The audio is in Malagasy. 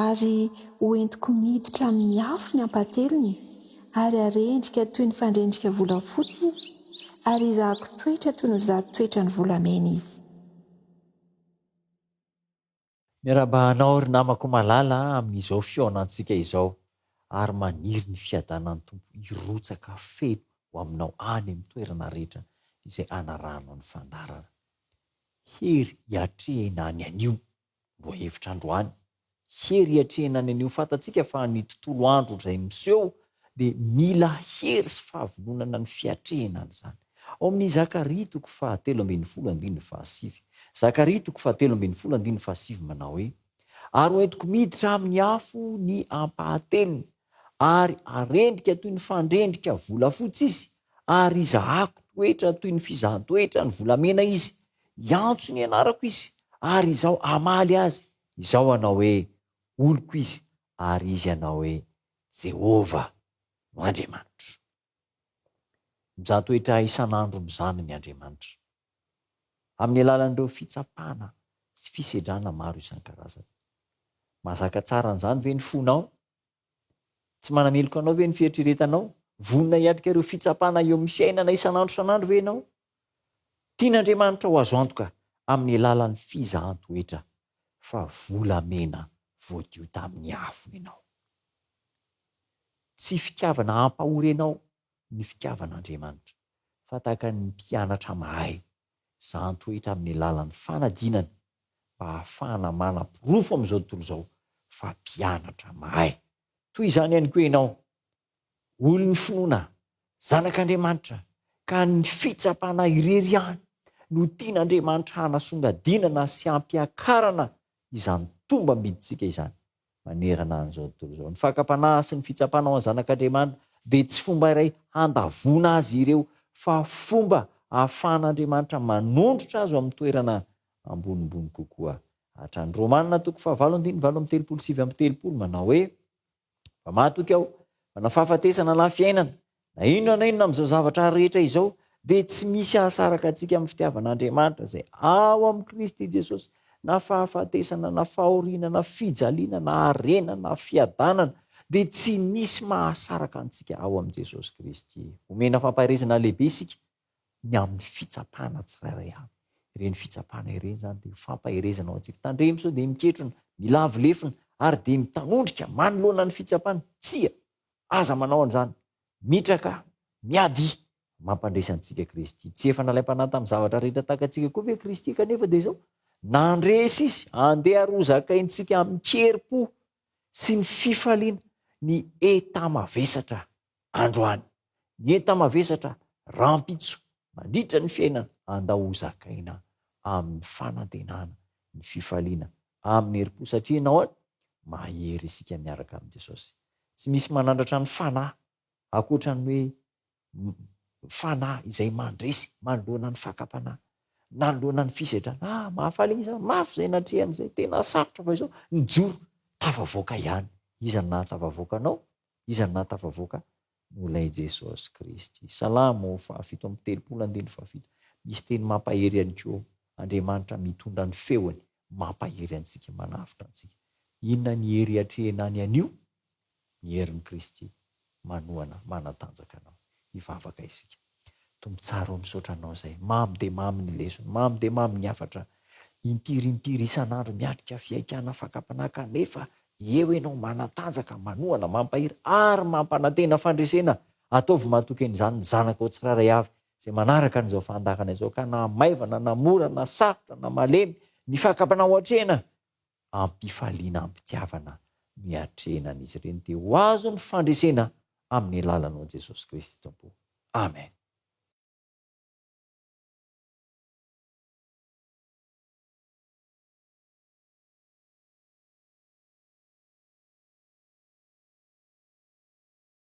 Ary hoentiko miditra amin'ny afo ny hampatelony, ary harendrika toy ny fandrendrika volafotsy izy, ary hizahako toetra toy ny vazo toetran'ny volamena izy. Miarahaba anao ry namako malala amin'izao fihaonantsika izao ary maniry ny fiadanan'ny Tompo hirotsaka feno ho aminao any amin'ny toerana rehetra izay anarahanao ny fandaharana. Hery hiatrehina any anio. Lohahevitra androany, Hery hiatrehina any anio Fantatsika fa ny tontolo andro izay miseho dia mila hery sy fahavononana ny fiatrehina an'izany. Ao amin'ny Zakaria toko faha telo ambin'ny folo andininy faha sivy, Zakaria toko faha telo ambin'ny folo andininy faha sivy manao hoe, Ary hoentiko miditra amin'ny afo ny ampahatelony, ary harendrika toy ny fandrendrika volafotsy izy, ary hizahako toetra toy ny fizahan-toetra ny volamena izy, hiantso ny anarako izy, ary izaho hamaly azy, izaho hanao hoe, Oloko izy, Ary izy hanao hoe, Jehovah no Andriamanitro. Mizaha toetra isan'andro amin'izany ny Andriamanitra, amin'ny alalan'ireo fitsapana sy fisedrana maro isan-karazany. Mahazaka tsara an'izany ve ny fonao? Tsy manameloka anao ve ny fieritreretanao? Vonona hiatrika ireo fitsapana eo amin'ny fiainana isan'andro isan'andro ve ianao? Tian'Andriamanitra ho azo antoka amin'ny alalan'ny fizahan-toetra fa volamena voadio tamin'ny afo ianao. Tsy fitiavana hampahory anao ny fitiavan'Andriamanitra, fa tahaka ny mpianatra mahay, zahan-toetra amin'ny alalan'ny fanadinana mba hahafahana manaporofo amin'izao tontolo izao fa mpianatra mahay. Toy izany ihany koa ianao, Olon'ny finoana Zanak'Andriamanitra ka ny fitsapana irery ihany no tian'Andriamanitra hanasongadinana sy hampiakarana izany tombam-bidintsika izany manerana an'izao tontolo izao. Ny fakam-panahy sy ny fitsapana ho an'ny Zanak'Andriamanitra dia tsy fomba iray handavoana azy ireo fa fomba ahafahan'Andriamanitra manondrotra azy ho amin'ny toerana ambonimbony kokoa hatrany. Romana toko fahavalo andininy valo amby telopolo sy sivy amby telopolo manao hoe, Fa matoky aho fa na fahafatesana na fiainana, na inona na inona amin'izao zavatra rehetra izao, dia tsy misy hahasaraka antsika amin'ny fitiavan'Andriamanitra izay ao amin'i Kristy Jesosy, na fahafatesana na fahoriana na fijaliana na harena na fiadanana, dia tsy misy mahasaraka antsika ao amin'i Jesosy Kristy. Omena fampaherezana lehibe isika ny amin'ny fitsapana tsirairay avy. Ireny fitsapana ireny izany dia fampaherezana ho antsika. Tandremo sao dia miketrona, milavo lefona ary dia mitanondrika manoloana ny fitsapana. Tsia, aza manao an'izany. Mitraka, miady, mampandresy antsika Kristy. Tsy efa nalaim-panahy tamin'ny zavatra rehetra tahaka antsika koa ve Kristy kanefa dia izao? Nandresy Izy, andeha ary hozakaintsika amin-kerim-po sy ny fifaliana ny enta-mavesatra androany, ny enta-mavesatra rahampitso mandritra ny fiainana andao ho zakaina amin'ny fanantenana, ny fifaliana amin'ny herim-po satria ianao an, mahery isika miaraka amin'i Jesosy. Tsy misy manandratra ny fanahy ankoatra ny hoe fanahy izay mandresy manoloana ny fakam-panahy, nanoloana ny fisedrana. Ah, mahafaly ny iza mafy izay natrehany izay, tena sarotra fa izao, nijoro, tafavoaka ihany. Iza no nahatafavoaka anao? Iza no nahatafavoaka? Noho Ilay Jesosy Kristy. Salamo fahafito amby telopolo andininy fahafito. Misy teny mampahery ihany koa, Andriamanitra mitondra ny feony, mampahery antsika, manavotra antsika. Inona ny hery atrehina any anio? Ny herin'i Kristy manohana, manatanjaka anao. Hivavaka isika. Tompon-tsary o misaotra anao izay. Mamy dia mamy ny lesona, mamy dia mamy ny hafatra. Impiry impiry isan'andro miatrika fihaikana fakampanahy kanefa eo ianao manatanjaka, manohana, mampahery ary mampanantena fandresena. Ataovy matoky an'izany ny zanakao tsirairay avy izay manaraka an'izao fahandakana izao ka na maivana na mora na sarotra na malemy ny fakampanahy ho atrehina am-pifaliana am-pitiavana miatrehina an'izy ireny dia ho azo ny fandresena amin'ny alalan'i ao Jesosy Kristy Tompo. Amen.